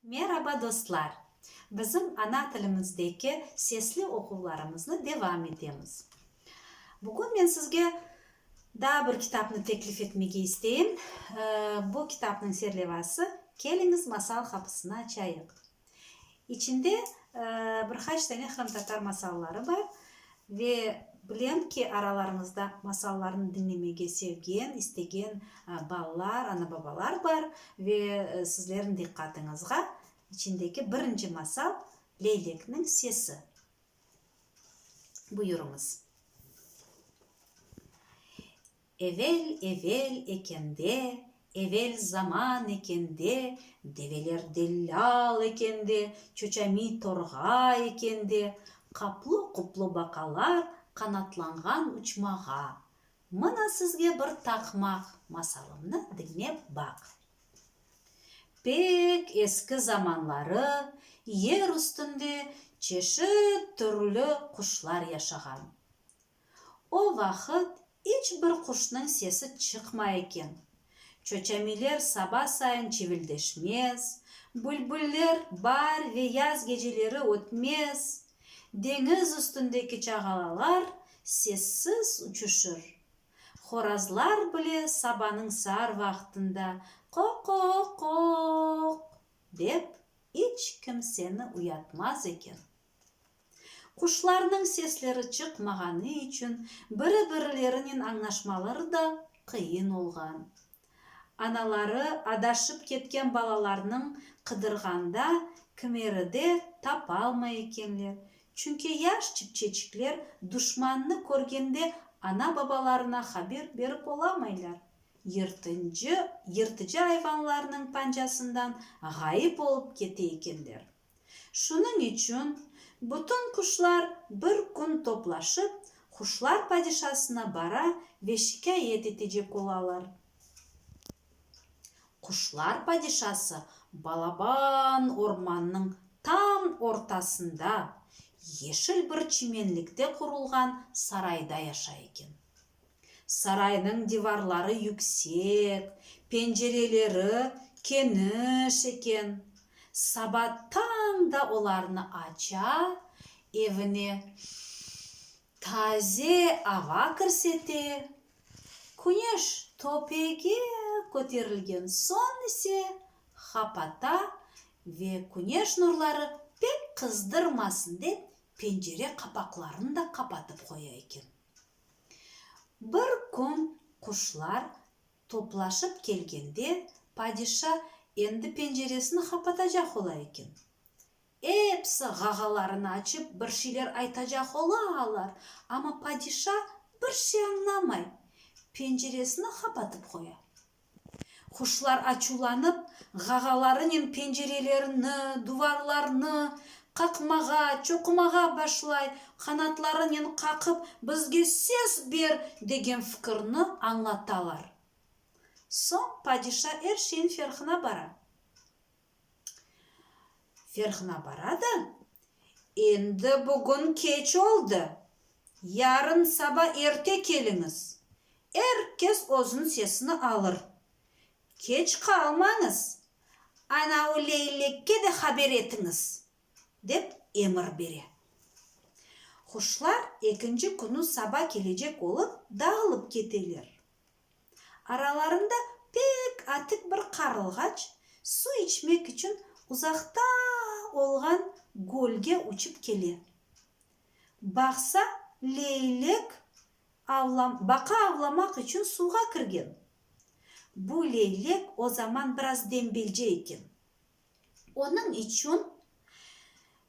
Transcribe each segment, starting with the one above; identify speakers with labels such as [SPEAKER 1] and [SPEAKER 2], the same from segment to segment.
[SPEAKER 1] Meraba dostlar! Bizim ana tilimizdeki sesli oquvlarımıznı devam etemiz. Bugün men sizge daa bir kitapnı teklif etmege isteyim. Bu kitapnıñ serlevası Keliñiz, masal qapısını açayıq. İçinde bir qaç tane qırımtatar masalları bar. Ve bilem ki, aralarıñızda masallarnı diñlemege sevgen, istegen balalar, ana-babalar bar. Ve sizlerniñ diqqatıñızğa içindeki birinci masal, Leylekniñ sesi. Buyurıñız. Evel-evel eken de, evel zaman eken de, develer dellâl eken de, çoçamiy torğa eken de, qaplı-quplı baqalar qanatlanğan uçmağa. Mına sizge bir taqmaq, masalımnı diñlep baq. Pek eski zamanları yer üstünde çeşit türlü quşlar yaşağan. O vaqıt İç bir quşnıñ sesi çıqmay eken. Çoçamiler saba sayın çivildeşmez, bülbüller baar ve yaz geceleri ötmez. Deñiz üstündeki çağalalar sessiz uçuşır. Horazlar bile sabanıñ saar vaqtında qoqooqooq dep iç kimseni uyatmaz eken. Quşlarnıñ sesleri çıqmağanı içün biri-birlerinen añlaşmaları da qıyın olğan. Anaları adaşıp ketken balalarnıñ qıdırğanda kimeride tapalmay ekenler, çünki yaş çipçeçikler duşmannı körgende ana-babalarına haber berip olamaylar, yırtıncı yırtıcı ayvanlarnıñ pancasından ğayıp olıp kete ekenler. Şunıñ içün bütün quşlar bir kün toplaşıp quşlar padişasına bara ve şikâyet etecek olalar. Quşlar padişası balaban ormannıñ tam ortasında, yeşil bir çimenlikte qurulğan sarayda yaşay eken. Saraynıñ divarları yüksek, pencereleri keniş eken. Saba tañ da olarnı aça, evine taze ava kirse te, küneş töpege köterilgen soñ ise qapata ve küneş nurları pek qızdırmasın dep pencere qapaqlarını da qapatıp qoya eken. Bir kün quşlar toplaşıp kelgende, padişa endi penceresini qapatacaq ola eken. Episi ğağalarını açıp, bir şeyler aytacaq ola alar, amma padişa bir şey añlamay, penceresini qapatıp qoya. Quşlar açuvlanıp, ğağalarınen pencerelerini, duvarlarnı qaqmağa, çoqumağa başlay, qanatlarınen qaqıp, bizge söz ber, degen fikirni añlatalar. Soñ padişa er şeyin ferqına bara. Ferhına baradı, Endi bugün keç oldı, yarın saba erte keliñiz, er kes özüniñ sesini alır. Keç qalmañız, anavı leylekke de haber etiñiz, dep emir bere. Quşlar ekinci künü saba kelecek olıp dağılıp keteler. Aralarında pek atik bir qarılğaç su içmek içün uzaqta olğan gölge uçıp kele. Baqsa, leylek avlam, baqa avlamaq içün suvğa kirgen. Bu leylek o zaman biraz dembelce eken. Onıñ içün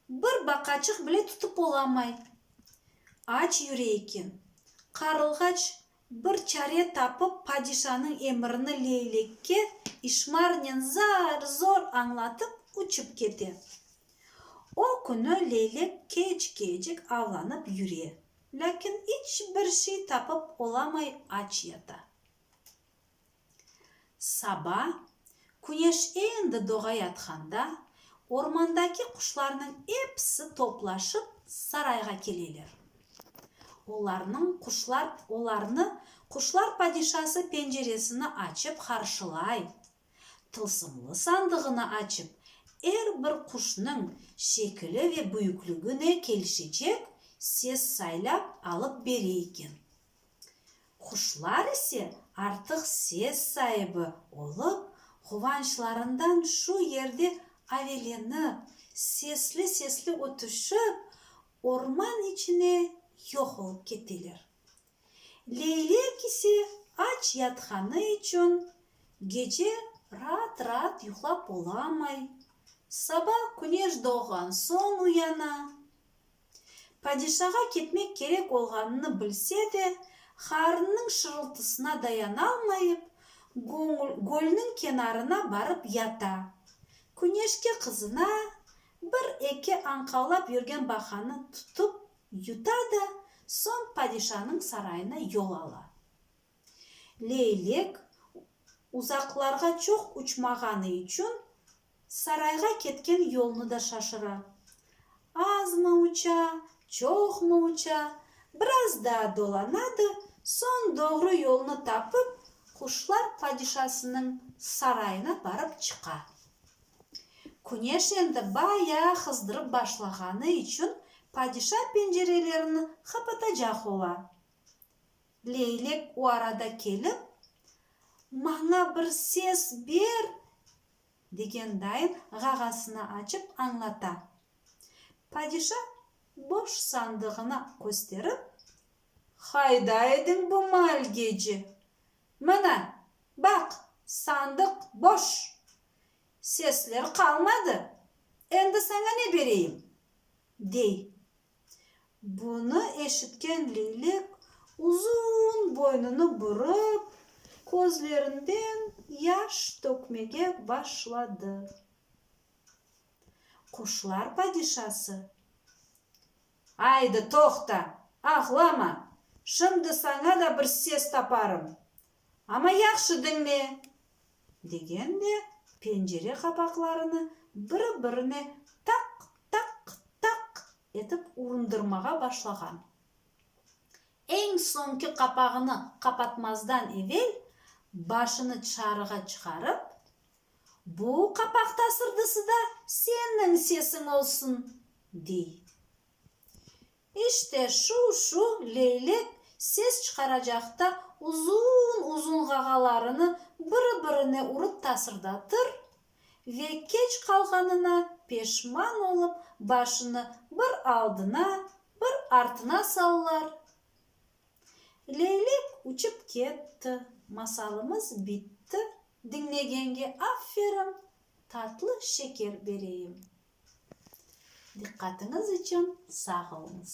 [SPEAKER 1] bir baqaçıq bile tutıp olamay, aç yüre eken. Qarılğaç Bir çare tapıp padişanıñ emirini leylekke işmarnen zar-zor añlatıp uçıp kete. O künü leylek keç-kecik avlanıp yüre, lâkin iç bir şey tapıp olamay aç yata. Saba, küneş endi doğayatqanda, ormandaki quşlarnıñ episi toplaşıp sarayğa keleler. Olarnıñ quşlar olarnı quşlar padişası penceresini açıp qarşılay, tılsımlı sandığını açıp, er bir quşnıñ şekili ve büyüklügine kelişecek ses saylap alıp bere eken. Quşlar ise artıq ses saibi olıp, quvançlarından şu yerde avelenip, sesli-sesli ötüşip, orman içine yoq olıp keteler. Leylek ise aç yatqanı içün gece raat-raat yuqlap olamay, saba küneş doğğan soñ uyana, Padişağa ketmek kerek olğanını bilse de, Harınnıñ şırıltısına dayanalmayıp, gölniñ kenarına barıp yata. Küneşke qızına, bir-eki añqavlap yürgen baqanı tutıp yuta da, soñ padişanıñ sarayına yol ala. Leylek uzaqlarğa çoq uçmağanı içün Sarayğa ketken yolnı da şaşıra. Azmı uça, çoqmı uça, biraz daa dolanadı, soñ doğru yolnı tapıp, quşlar padişasınıñ sarayına barıp çıqa. Küneş endi bayağı qızdırıp başlağanı içün padişa pencerelerini qapatacaq ola. Leylek o arada kelip, Maña bir ses ber! Degen dayın ğağasına açıp añlata. Padişa boş sandığına kösterip. Qayda ediñ bu mal gece? Mına, baq, sandıq boş. Sesler qalmadı, endi saña ne bereyim? dey. Bunı eşitken leylek uzun boynunı burıp, közlerinden yaş tökmege başladı. Quşlar padişası, Aydı, toqta, ağlama, şimdi saña da bir ses taparım, Amma yahşı diñle! degen de pencere qapaqlarını biri-birine taq, taq, taq etip urundırmağa başlağan. Eñ soñki qapağını qapatmazdan evel başını çarığa çıqarıp, Bu qapaq tasırdısıda senniñ sesiñ olsun! dey. İşte şu, şu leylek ses çıqaracaqta uzun-uzun ğağalarını biri-birine urıp tasırdatır ve keç qalğanına peşman olıp başını bir aldına, bir artına sallar. Leylek uçıp ketti, masalımız bitti. Diñlegenge aferin, tatlı şeker bereyim. Diqqatıñız içün sağ oluñız.